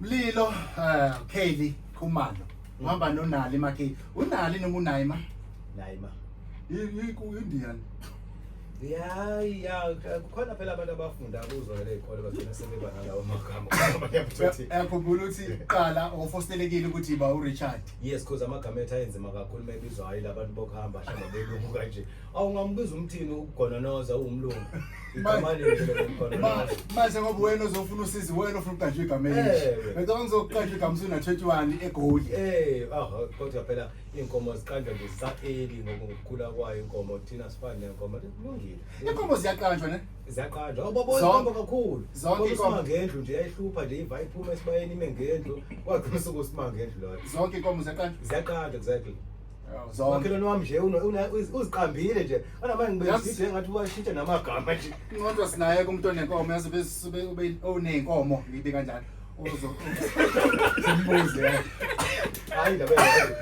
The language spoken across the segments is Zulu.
Mlilo uh, Kelly Khumalo uhamba mm. nonali makhe unali noma unayima nayima yini ku Indian ya ya kukhona phela abantu abafunda kuzona ley'kole bagcina sebeba nalawo magama uyakhumbula ukuthi qala ofostelekile ukuthi ba urichard yes cause amagama ethu ayenzima kakhulu uma ebizwa hhayi la bantu bokuhamba hlamba belungu kanje awungambiza umthini ukugononoza uwumlungu manje ngoba wena uzofuna usizi wena ofuna ukuqanjwa igama elisha ngicabanga ngizokuqanjwa igama usuna-twenty-one egoli kodwa phela iy'nkomo ziqanjwa nje zisaqeli ngokukhula kwayo inkomo thina sifane nenkomo kulungile inkomo ziyaqanjwa ne ziyaqanjwa awubaboyi inkomo kakhulu zonke inkomo ngendlu nje yayihlupha nje iva iphuma esibayeni ime ngendlu kwagcina usuku sima ngendlu loyo zonke inkomo ziyaqanjwa ziyaqanjwa exactly umakhelwane wami nje uziqambile nje anamanje ngibezide ngathi ubashintshe namagama nje inqondo sinaye kumntu onenkomo yazi ube uney'nkomo ngiyibika njalo Sembuze. Hayi ndaba yayo.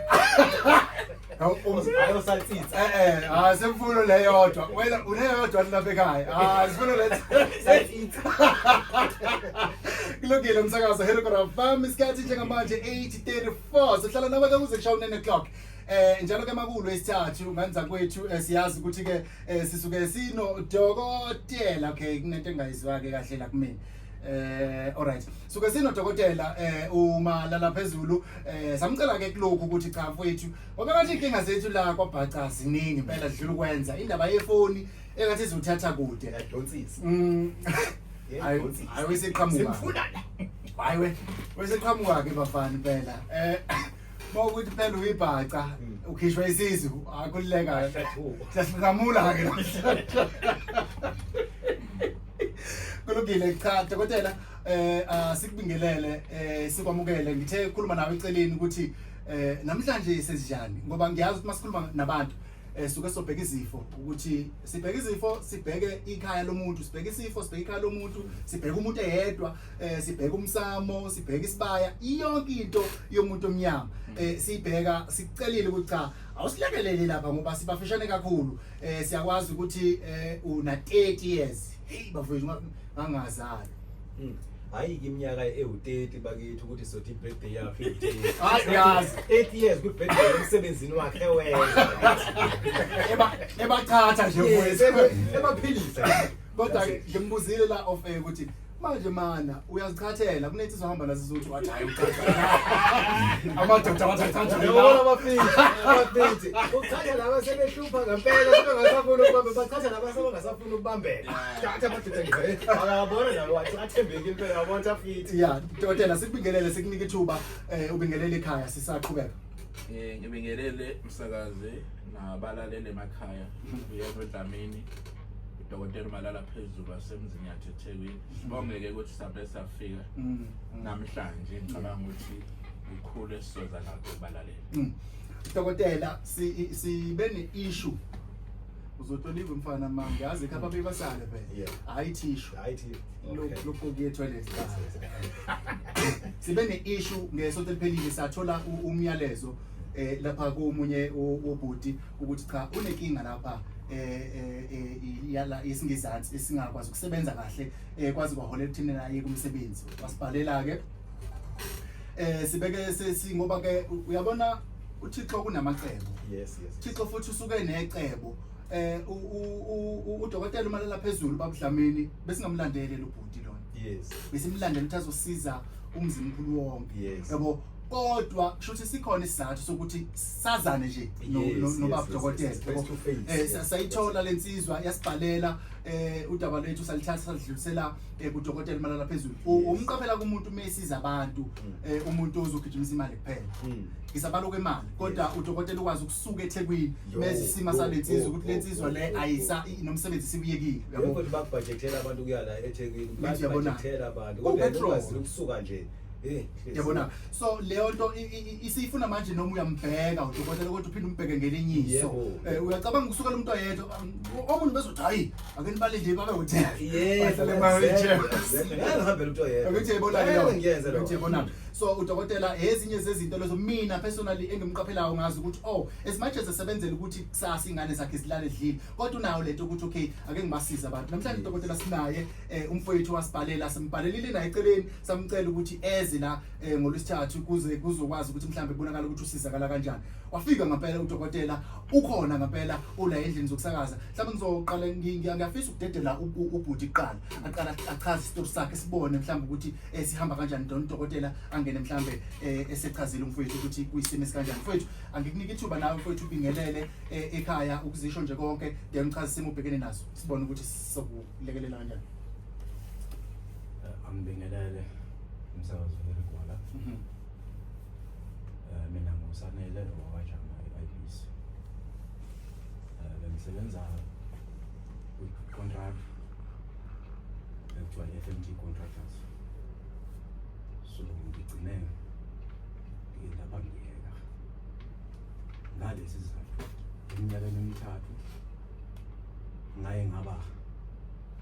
Ayosatsitsa. Eh eh, ah semfuno le yodwa. Wena uneyodwa lapha ekhaya. Ah sifuna le satsitsa. Kulungile umsakazo Hero Kora Farm isikhathi njengamanje 8:34. Sihlala nawe ke kuze kushaye 9 o'clock. Eh njalo ke makulo isithathu nganza kwethu eh, siyazi ukuthi ke eh, sisuke sino dokotela okay kunento engayizwa ke kahle la kumina. Eh alright. So ke sino dokotela eh uma lala phezulu eh samcela ke kulokhu ukuthi cha mfowethu ngoba bathi inkinga zethu la kwabhaca ziningi impela dlula ukwenza indaba yefoni engathi izothatha kude. Yadonsisa. Mm. Yadonsisa. Ayiwesiqhamuka. Simfuna la. Hayi we. Wesiqhamuka ke bafana impela. Eh Uma ukuthi phela uyibhaca Mm. ukhishwa isisu akululeka Ayasathuka. siyasigamula ke kulungile cha dokotela eh ah, sikubingelele eh sikwamukele ngithe khuluma nawe eceleni ukuthi eh namhlanje senjani ngoba ngiyazi ukuthi masikhuluma nabantu eh suke sobheka izifo ukuthi sibheka izifo sibheke ikhaya lomuntu sibheke isifo sibheke ikhaya lomuntu sibheke umuntu eyedwa eh sibheka umsamo sibheka isibaya iyonke into yomuntu omnyama eh sibheka sicelile ukuthi cha awusilekelele lapha ngoba sibafishane kakhulu eh siyakwazi ukuthi eh una 30 years hey bafethu ngangazali hmm. hayi iminyaka ewu-30 bakithi ukuthi sothi i-birthday yakho iyazi 8 years kwi-birthday emsebenzini wakhe ebathatha nje ebaphilisa kodwa ngimbuzile la of air ukuthi manje mana uyazichathela kunethi sohamba la sizothu wathi hayi amadoda abathathatha yabona abafithi abafithi uchathela laba sebehlupha ngempela sebengasafuni ukubamba bachathela laba sebengasafuni ukubambela thatha amadoda nje akabona nalo wathi athembeki impela yabona afithi ya dotela sikubingelele sikunike ithuba eh, ubingelele ekhaya sisaqhubeka eh ngibingelele msakazi nabalalele emakhaya uyezwe Dlamini udokotela umalala phezulu wasemzini yathethekwini sibongeke ukuthi sabe safika mm. namhlanje ngicabanga ukuthi ukhulu esizoza nakho balalela mm. dokotela sibe ne-issue uzotoliva umfana ma ngiyazi khapha mm. bebasale vele hayi thishu lokuqoki etoilet sibe ne-issue ngesonto eliphelile sathola umyalezo um lapha komunye wobhuti ukuthi cha unekinga lapha eh, eh, eh, yala isingizansi esingakwazi ukusebenza kahle kwazi kwaholela ekuthini naye kumsebenzi wasibhalela ke eh sibeke sesingoba ke uyabona uThixo kunamacebo yes yes Thixo futhi usuke necebo eh udokotela umalela phezulu babudlamini besingamlandele lobhuti lona yes besimlandela ukuthi azosiza umzimkhulu wonke yebo kodwa kusho ukuthi sikhona isizathu sokuthi sazane nje nobaba dokotela eh sayithola lensizwa yasibhalela eh udaba lwethu salithatha salidlulisela eh, kudokotela malala phezulu umqaphela kumuntu mesiza abantu mm. eh, umuntu ozogijimisa imali kuphela mm. ngisabalo kwemali kodwa udokotela ukwazi ukusuka eThekwini mezi sima salensizwa ukuthi lensizwa le ayisa nomsebenzi sibuyekile yabo ukuthi babhajethela abantu kuyala eThekwini babhajethela abantu kodwa ukusuka nje Eh, yabona so leyo nto isiyifuna manje noma uyambheka udokotela ukuthi uphinde umbheke ngelinye iso eh, uyacabanga ukusukela umuntu oyedwa um, omunye bezothi hayi ake nibale nje babe ukuthi bahlale mahambele umuntu oyedwa ukuthi yibona leyo ukuthi yibona so udokotela ezinye zezinto lezo mina personally engimqaphelayo ngazi ukuthi oh as much as esebenzela ukuthi kusasa ingane zakhe zilale edlile kodwa unayo lento ukuthi okay ake ngibasize abantu namhlanje udokotela sinaye eh umfowethu wasibhalela simbhalelile naye eceleni samcela ukuthi eze la eh, ngolwesithathu kuze kuzokwazi ukuthi mhlambe bonakala ukuthi usizakala kanjani wafika ngempela udokotela ukhona ngempela ula endlini zokusakaza mhlawumbe ngizoqala ngiyafisa ukudedela ubhuti kuqala aqala achaze isitori sakhe sibone mhlawumbe ukuthi eh, sihamba kanjani don udokotela angene mhlawumbe eh, esechazile umfowethu ukuthi kuyisimo esikanjani mfowethu angikunike ithuba nawe mfowethu ubingelele eh, ekhaya ukuzisho nje konke then uchaze isimo ubhekene naso sibone ukuthi sokuba Lekelela kanjani? Eh, Angibingelele umsakazo weRigwala. Mhm. Eh, Mina nguSanele wakwaJama e-IBC. Eh, Bengisebenza kwi-contract ekuthiwa i-FMT Contractors. So ngigcine ngiye lapha ngiyeka ngalesi sizathu eminyakeni emithathu ngaye ngaba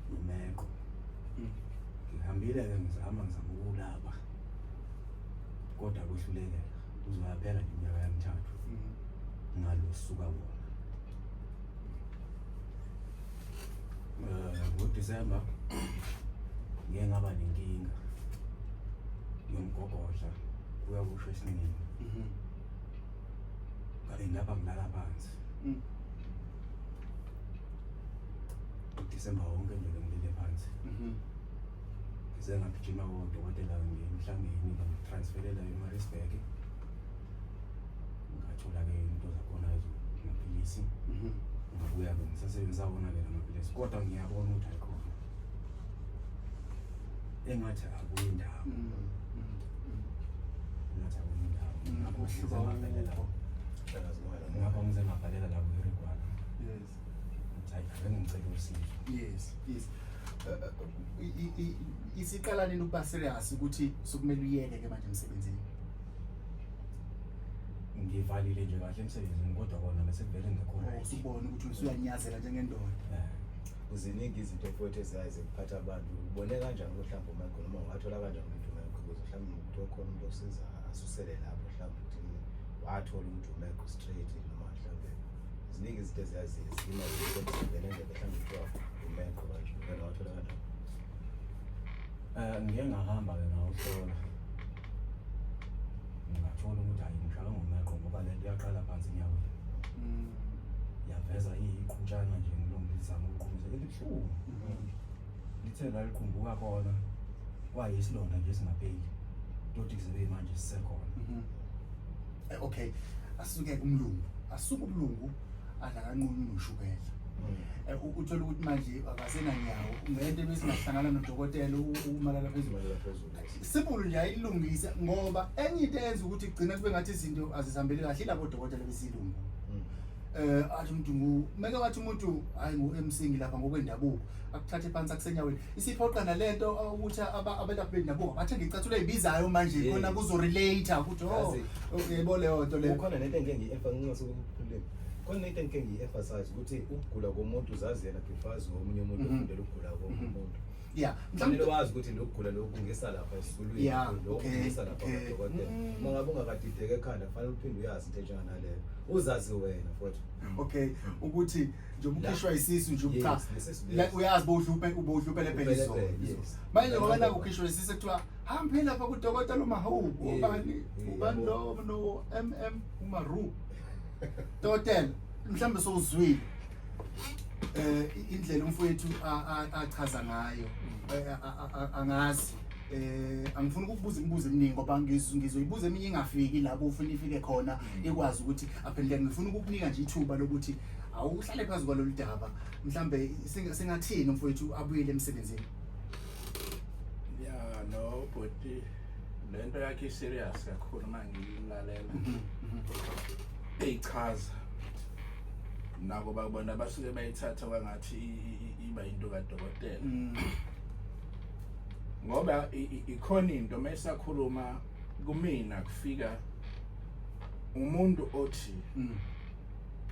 nomeko mm. ngihambile ke ngizama ngizama ukulaba kodwa kwehlulekela uzoyaphela iminyaka yamithathu mm. ngalosuka wona eh, ngodisemba ngiye ngaba nenkinga yomgogodla kuyakusho esiningi mm-hmm. ngabe ngaba ngilala phansi mm. udisemba wonke nje ngilele phansi mhm. ngize ngagijima kodokotela ngemhlangeni ngitransferela emarisburg ngathola-ke into zakhona amaphilisi mhm. ngabuya-ke ngisasebenzisa wona-ke la maphilisi kodwa ngiyabona ukuthi ayikhona engathi akuyi ndawo mm, mm, mm. engathi akuyi ndawo ngakho ngize ngabhalela ngakho ngize ngabhalela la kuhirigwana yes hayi bengicela usizo yes yes isiqala nini ukuba serious ukuthi sokumele uyeke ke manje emsebenzini ngivalile nje kahle emsebenzini kodwa kona bese kuvele ngekho right ubone ukuthi usuyanyazela njengendoda eh. Uziningi izinto futhi eziyaye zikuphatha abantu. Ubone kanjani ukuthi mhlawumbe uMichael noma ungathola kanjani ukuthi uMichael ukuze mhlawumbe umuntu okhona umuntu osiza asusele lapho mhlawumbe ukuthi wathola ukuthi uMichael straight noma mhlawumbe ziningi izinto eziyaye ziyima ukuthi ngene nje mhlawumbe kuthiwa uMichael kanje ngeke wathola kanjani. Eh ngeke ngahamba ke ngawuhlola. ngingathola ukuthi hayi ngihlala ngomeqo ngoba le nto yaqala phansi enyaweni Mm. yaveza iyiqhutshana nje ngilungu lizama ukuqhumisa elibuhlungu lithe laliqhumbuka kona kwayisilonda nje singapeli toti zibe manje sisekhona Mhm. Eh, okay asuke kumlungu asuke umlungu adlakanquni noshukela Eh, u- uthole ukuthi manje akasenanyawo ngento ebesingahlangana nodokotela u- umalala phezulu Umalala phezulu. simulu nje ayilungise ngoba enye into eyenza ukuthi kugcina kube ngathi izinto azizihambeli kahle ilabo dokotela besilungu mm. eh athi umuntu ngu meke wathi umuntu hayi ngu MC ngilapha ngokwendabuko akuthathe phansi akusenyaweni isiphoqa nalento ukuthi abelaphi bendabuko bathe ngicathulo ezibizayo manje khona kuzo relate ukuthi oh yebo leyo nto leyo khona nento engeke ngiyefa nginqose ukukhuluma khona into engike ngiyi-emphasize ukuthi ukugula komuntu uzazi yena before azi omunye umuntu mhm. ofundela ukugula komunye mhm. umuntu yeah mhlawumbe wazi ukuthi lokugula lokhu ngisa lapha esisulwini yeah lokhu ngisa lapha kodwa uma ngabe ungakadideke ekhanda kufanele uphinde uyazi into enjena naleyo uzazi wena futhi mm. okay ukuthi nje umkhishwa isisu nje ubutha uyazi bowudlupe ubowudlupele phela izo manje ngoba la ukhishwa isisu kuthiwa hambe lapha kudokotela uma hawu ubani ubani lo no mm umaru totel mhlambe sowuzwile eh indlela umfowethu achaza ngayo eh, angazi eh angifuni ukubuza imibuzo eminingi ngoba ngizoyibuza eminye ingafiki lapho ufuna ifike khona mm. ikwazi ukuthi aphendule ngifuna ukukunika nje ithuba lokuthi awuhlale phezu kwalolu daba mhlambe singathini umfowethu abuyele emsebenzini ya no bhuti le nto yakhe i-serious kakhulu uma ngiyilalela mm-hmm, mm-hmm. eyichaza nako bakubona basuke bayithatha kwangathi iba into kadokotela mm. ngoba ikhona into uma isakhuluma kumina kufika umuntu othi mm.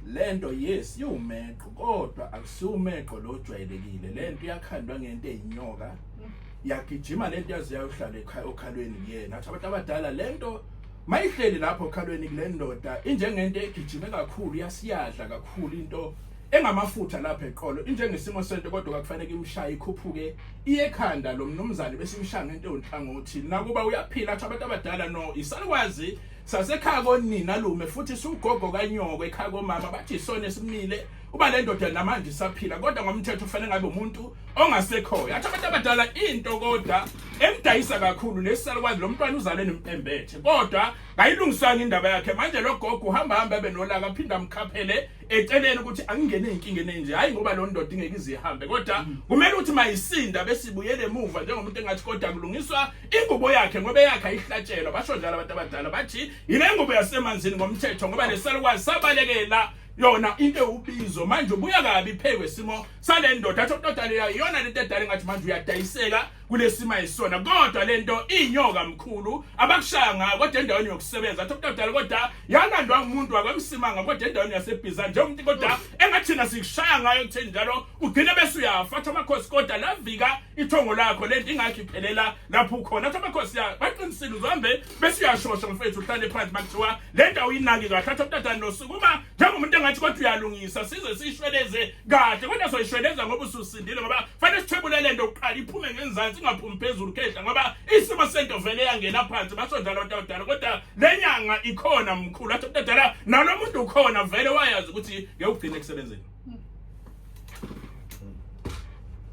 lento yes iwumeqo kodwa akusiwumeqo lo jwayelekile lento iyakhandwa ngento eyinyoka mm. yagijima lento yazi yayohlala ekhaya okhalweni kuyena athi abantu abadala lento Mayihleli lapho okhalweni kule ndoda injengento egijime kakhulu yasiyadla kakhulu into engamafutha lapha eqolo injengesimo sento kodwa kwakufanele imshaye ikhuphuke iyekhanda lo mnumzane besimshaya ngento yonhlangothi nakuba uyaphila athi abantu abadala no isalukwazi sasekhaya konina lume futhi sugogo kanyoko ekhaya komama bathi isona esimile uba le ndoda namanje isaphila kodwa ngomthetho ufanele ngabe umuntu ongasekhoyo athi abantu abadala into kodwa emdayisa kakhulu nesalukwazi lo mntwana uzale nempembethe kodwa ngayilungisanga indaba yakhe manje lo gogo uhamba hamba ebe nolaka aphinde amkhaphele eceleni ukuthi angingene ezinkingeni enje hayi ngoba lo ndoda ingeke izihambe kodwa mm. kumele ukuthi mayisinda besibuyele emuva njengomuntu engathi kodwa kulungiswa ingubo yakhe ngoba eyakhe ayihlatshelwa basho njalo abantu abadala bathi yile ngubo yasemanzini ngomthetho ngoba nesalukwazi sabalekela yona into ewubizo manje ubuya kabi phekwe simo sale ndoda athi okudala yayo iyona lento edala engathi manje uyadayiseka kulesimo ayisona kodwa lento inyoka mkhulu abakushaya ngayo kodwa endaweni yokusebenza athi okudala kodwa yalandwa umuntu wakwemsimanga kodwa endaweni yasebhiza nje umuntu kodwa engathina sikushaya ngayo kutheni njalo ugcine bese uyafa athi amakhosi kodwa lavika ithongo lakho lento ingakho iphelela lapho ukhona athi amakhosi ya baqinisile uzohambe bese uyashosha mfethu uhlale phansi makuthiwa lento awuyinaki kahle athi okudala nosukuma njengomuntu engathi kodwa uyalungisa size sishweleze kahle kodwa soyishweleza ngoba ususindile ngoba fanele sithwebule lento kuqala iphume ngenzansi ingaphumi phezulu khehla ngoba isimo sento vele yangena phansi basondala abantu abadala kodwa le nyanga ikhona mkhulu athi umuntu adala nalo muntu ukhona vele wayazi ukuthi ngekugcina ekusebenzeni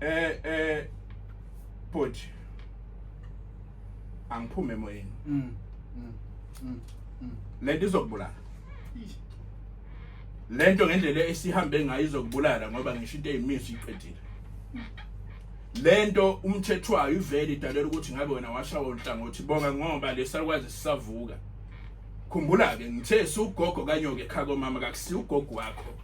eh eh bhuti angiphume emoyeni mm, mm, mm, le nto izokubulala lento ngendlela esihambe ngayo izokubulala ngoba ngisho into eyimisi iqedile lento umthethwayo ivele idalela ukuthi ngabe wena washawa unhlangothi bonga ngoba lesakwazi sisavuka khumbula ke ngithe sugogo kanyoke khako mama kakusi ugogo wakho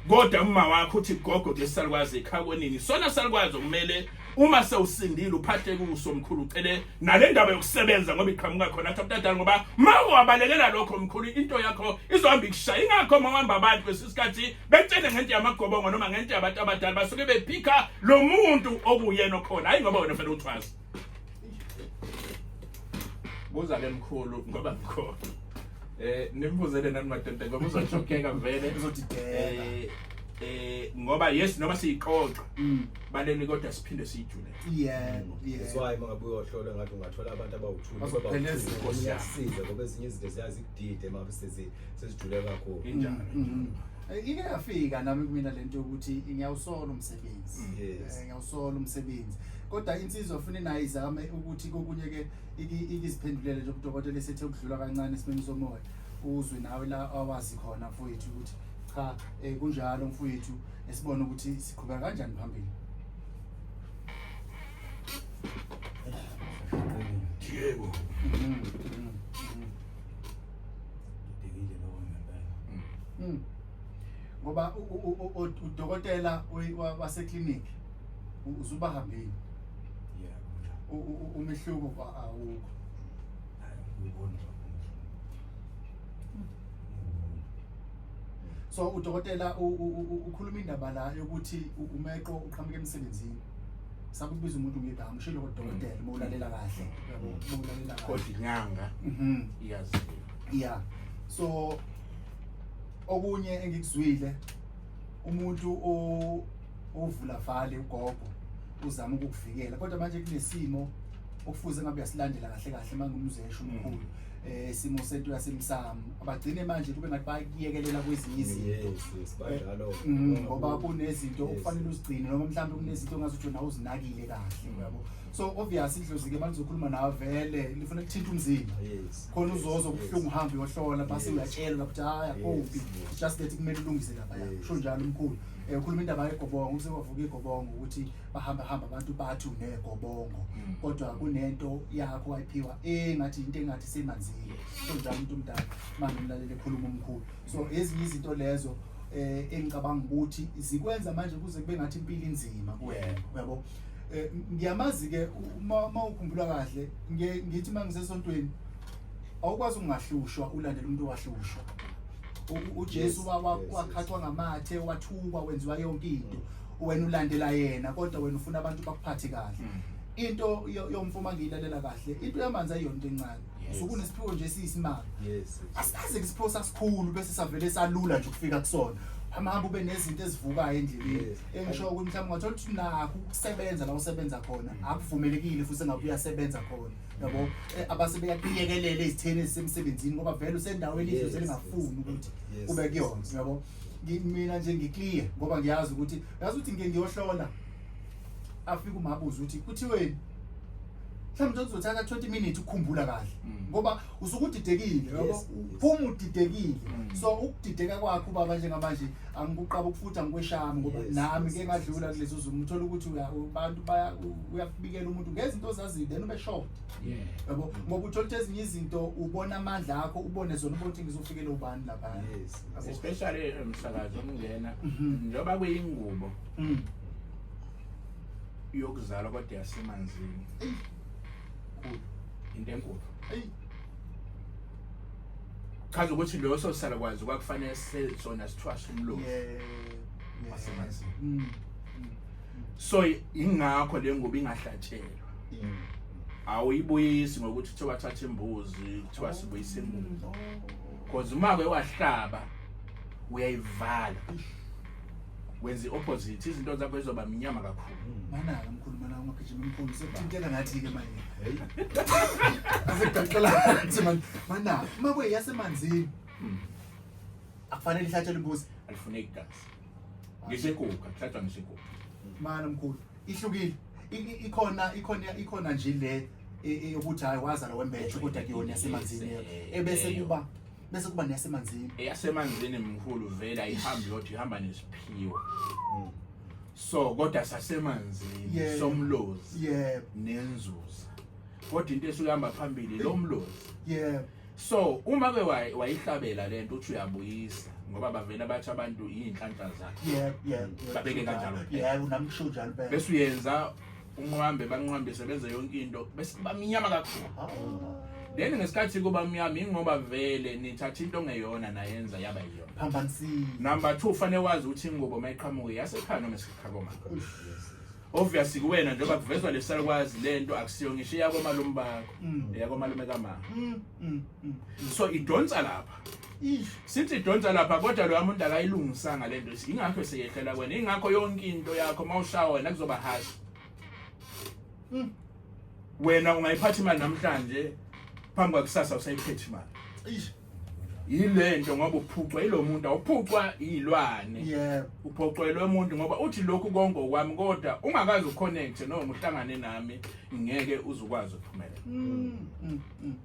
kodwa uma wakho uthi gogo ke salukwazi ekhakwenini sona salukwazi okumele uma sewusindile uphatheke uso mkhulu ucele nale ndaba yokusebenza ngoba iqhamuka khona lapha mntadala ngoba ma ungabalekela lokho mkhulu into yakho izohamba ikushaya ingakho uma uhamba abantu kwesisikhathi betshene ngento yamagobongo noma ngento yabantu abadala basuke bephika lo muntu okuyena okhona hayi ngoba wena fanele uthwaze buza ke mkhulu ngoba mkhulu eh nimbuzele nani madoda ngoba uzoshokeka vele uzodideka eh eh ngoba yes noma siyixoxa mm. baleni kodwa siphinde siyijule yebo that's why mangabuye ohlolo ngathi ungathola abantu abawuthuli Bazophela eziko, siya. size ngoba ezinye izinto ziyazikudide mabe sezi sezijule kakhulu injalo Mm. Eh, ike yafika nami kumina lento yokuthi ngiyawusola umsebenzi Mm. Yes. Eh, ngiyawusola umsebenzi kodwa insizwa funa nayo izame ukuthi kokunye ke iki- ikiziphendulele nje kudokotela esethe ukudlula kancane esimeni somoya uzwe nawe la awazi khona mfowethu ukuthi cha eh, kunjalo mfowethu esibone ukuthi siqhubeka kanjani phambili Diego ngidekile lokho ngempela Mm. ngoba u- u- u- u- udokotela we- wa- waseclinic u- uzubahambile yeah U- u- u- umehluko kwa- awukho hayi ngibona so udokotela ukhuluma indaba la yokuthi umeqo uqhamuke emsebenzini sakubiza umuntu ngegama ushilo kodokotela uma ulalela kahle yabo uma ulalela kahle kodwa inyanga mhm iyazi yeah so okunye engikuzwile umuntu ovula vale ugogo uzama ukukuvikela kodwa manje kunesimo okufuze ngabe uyasilandela kahle kahle mangumzesho umkhulu mm. eh simo sethu yasemsamo abagcine manje kube ngathi bayekelela kwezinye izinto yes yes banjalo eh, mm, ngoba kunezinto okufanele uzigcine noma mhlawumbe kunezinto ongazi ukuthi nawe uzinakile kahle uyabo so obvious idlozi ke malizokhuluma nawe vele lifuna ukuthinta umzimba yes khona uzozo kuhlungu uhambe uyohlola base uyatshelwa ukuthi haya kuphi just that kumele ulungise lapha sho njalo umkhulu eh ukhuluma indaba yegobongo usewavuka igobongo ukuthi bahamba hamba abantu bathi unegobongo mm. kodwa kunento yakho wayiphiwa engathi into engathi semanzile so njalo umuntu omdala manje umlalele ekhuluma umkhulu so ezinye izinto lezo eh engicabanga ukuthi zikwenza manje kuze kube ngathi impilo inzima kuwena uyabo eh, ngiyamazi ke uma ukhumbula kahle ngithi mangisesontweni awukwazi ungahlushwa ulandela umuntu owahlushwa uJesu wakhathwa ngamathe wathukwa wenziwa yonke into wena ulandela yena kodwa wena ufuna abantu bakuphathe kahle mm. into yomfo uma ngiyilalela kahle into yamanzi ayiyona into encane sukunesiphiwo nje siyisimanga asikaze kusiphiwo sasikhulu bese savele salula nje ukufika kusona hamahamba ube nezinto ezivukayo endleleni engisho ukuthi mhlawumbe ungathola ukuthi nakho ukusebenza la usebenza khona mm. akuvumelekile futhi engabe uyasebenza khona yabo eh, abase beyaqiyekelela izitheni ezisemsebenzini ngoba vele usendaweni idlozi elingafuni ukuthi ube kuyona yabo mina nje ngiclear ngoba ngiyazi ukuthi yazi ukuthi ngike ngiyohlola afike umabuza ukuthi kuthiweni mhlawumbe kuzothatha 20 minutes ukukhumbula kahle mm. ngoba usuke udidekile phuma udidekile mm. so ukudideka kwakho ubaba njengamanje angikuqaba ukufuthi angikweshami ngoba nami ke ngadlula kulezo zimo uthola ukuthi abantu uyakubikela umuntu ngezinto ozaziyo then ube short yabo ngoba uthola ukuthi ezinye izinto ubona amandla akho ubone zona ubona ukuthi ngizofikela ubani laphana especially eh, msakazi omngena mhm. njengoba kuyingubo mm. yokuzalwa kodwa yasemanzini into enkulu chaza ukuthi leyo sosala kwazi kwakufanele sona sithwashe umlomo wasemanzini mm, mm, mm. so ingakho le ngubo ingahlatshelwa awuyibuyisi ngokuthi kuthiwa thatha imbuzi kuthiwa sibuyise imbuzi because uma ke wahlaba uyayivala wenza i-opposite izinto zakho zizoba mnyama kakhulu manaka mkhulu mana ungagijima mkhulu sekuthinteka ngathi-ke manje asegaxelanzi manje manaka uma kwe yasemanzini akufanele ihlatshele imbuzi alifuneki gazi ngisekuka kuhlatshwa ngisekuka mana mkhulu ihlukile ikhona ikhona ikhona nje le e, e, yokuthi hayi wazala wembethe kodwa kuyona yasemanzini ebese kuba bese kuba neyasemanzini eyasemanzini mkhulu vele ayihambi yodwa ihamba nesiphiwo mm. so kodwa sasemanzini somlozi nenzuza kodwa into esuke ihamba phambili lo mlozi yebo so uma ke wayi- wayihlabela le nto uthi uyabuyisa ngoba bavele bathi abantu iy'nhlanhla zakhe yebo yebo yebo. Babeke kanjalo. yebo nami kusho njalo impela. bese uyenza unqwambe banqwambise benze yonke into bese bamnyama kakhulu Hawu. then ngesikhathi kuba mnyama ingoba vele nithatha into ongeyona nayenza yaba yiyona phambanisile number two fanele wazi ukuthi ingubo uma iqhamuke yasekhaya noma esekhaya komama obvious kuwena njengoba kuvezwa lesalukwazi lento akusiyo ngisho yakwa malume bakho mm. yakwa malume kamama mm, mm, so idonsa lapha sithi idonsa lapha kodwa lo muntu akayilungisanga lento ingakho seyehlela kwena ingakho yonke into yakho mawushawa wena kuzoba harsh wena ungayiphatha imali namhlanje phambi kwakusasa usayiphethe imali yile nto ngoba uphucwa yilo muntu awuphucwa yilwane yebo uphoqelwe umuntu ngoba uthi lokhu konke okwami kodwa ungakazi uconnect noma uhlangane nami ngeke uzukwazi ukuphumela mm, mm, mm,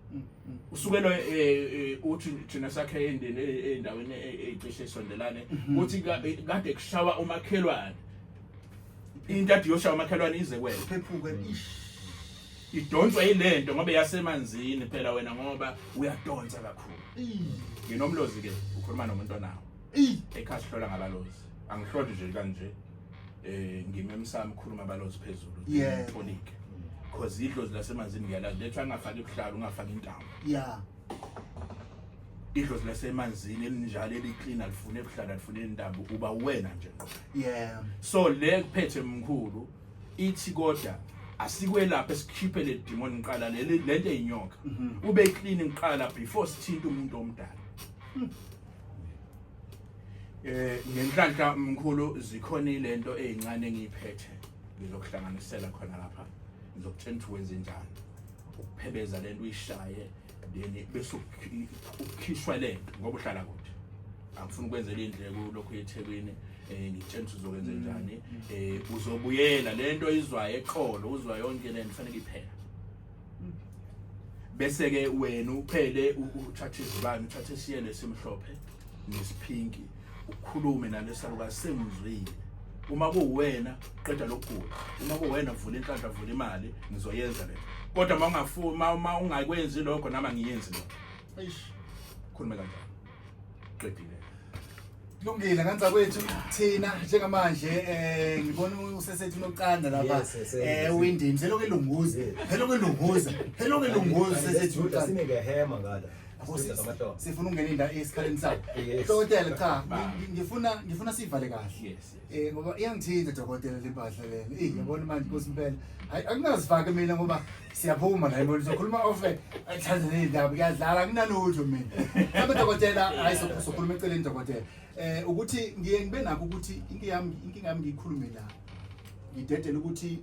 usukelo eh, eh, uthi thina sakhe endeni eh, endaweni ecishe sondelane mhm. uthi kade kushawa umakhelwane into adiyoshawa umakhelwane ize kwena phephuke ish idonswa yilento ngoba yasemanzini phela wena ngoba uyadonsa kakhulu nginomlozi ke ukhuluma nomuntu onawo ekhaya sihlola ngabalozi angihloli nje kanje eh ngime emsamo ukhuluma abalozi phezulu Yeah. polike cause idlozi lasemanzini ngiyalazi lethu angafaki ubuhlalu ungafaki intambo yeah idlozi lasemanzini elinjalo eliklin alifune ebuhlala alifune intambo uba uwena nje ngqo yeah so le kuphethe mkhulu ithi kodwa asikwelaphe sikhiphe le demon ngiqala le lento eyinyoka mhm. ube clean ngiqala before sithinta umuntu omdala hmm. eh ngenhlanhla mkhulu zikhona ilento ezincane engiyiphethe ngizokuhlanganisela khona lapha ngizokutshela ukuthi wenze njani ukuphebeza lento uyishaye ndini bese ukhishwa le nto ngoba uhlala kude angifuni ukwenzela indleko lokho eThekwini eh ngitshela ukuthi uzokwenza mm. njani eh uzobuyela lento izwayo eqolo uzwa yonke lento fanele iphela mm. bese ke wena uphele uthathe izibani uthathe isiyele simhlophe nesiphinki ukhulume nalesalukazi sengizwile uma kuwena qeda lokugula uma kuwena vula inhlanhla vula imali ngizoyenza le kodwa uma ungafuma uma ungakwenzi lokho nami angiyenzi lokho eish khulume kanjalo qedile Lungile kanza kwethu thina njengamanje eh ngibona usesethi unoqanda lapha Yes, yes, yes. eh windini selokhu elunguza selokhu elunguza selokhu elunguza usesethi unoqanda sinike hema ngala sifuna ukungena indawo esikhaleni sayo dokotela cha ngifuna ngifuna sivale kahle eh ngoba iyangithinta dokotela lempahla lena eh yabona manje nkosi impela hayi akunazifake mina ngoba siyaphuma la yibona sokhuluma ofe athanda nezindaba kuyadlala kunalutho mina mhlawumbe dokotela hayi sokhuluma eceleni dokotela eh ukuthi ngiye ngibe nakho ukuthi inkinga yami inkinga yami ngiyikhulume la ngidedela ukuthi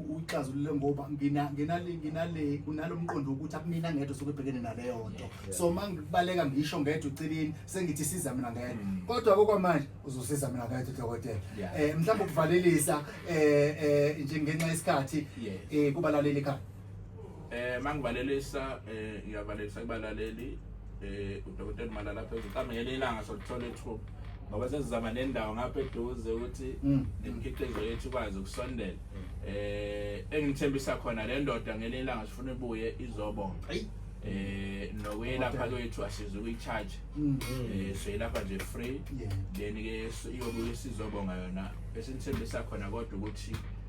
uyixazulule ngoba nginale nginale kunalo mqondo wokuthi akumina ngedwa sokubhekene naleyo nto so uma ngibaleka ngisho ngedwa uceleni sengithi siza mina ngedwa mm. kodwa kokwamanje uzosiza mina ngedwa udokotela um mhlawumbe ukuvalelisa um njengenxa yesikhathi um kubalaleli ekhaya Eh mangivalelisa eh ngiyavalelisa kubalaleli eh udokotela Malala phezulu mhlawumbe ngelinye ilanga sokuthola ithuba ngoba sesizama nendawo ngapha eduze ukuthi Mm. nemikhiqizo yethu ikwazi ukusondela eh engithembisa khona le ndoda ngelinye ilanga sifuna ibuye izobonga Ayi. eh nokwelapha kwethu asize ukuyicharge Mm. eh siyilapha nje free Yeah. then ke iyobuye sizobonga yona esithembisa khona kodwa ukuthi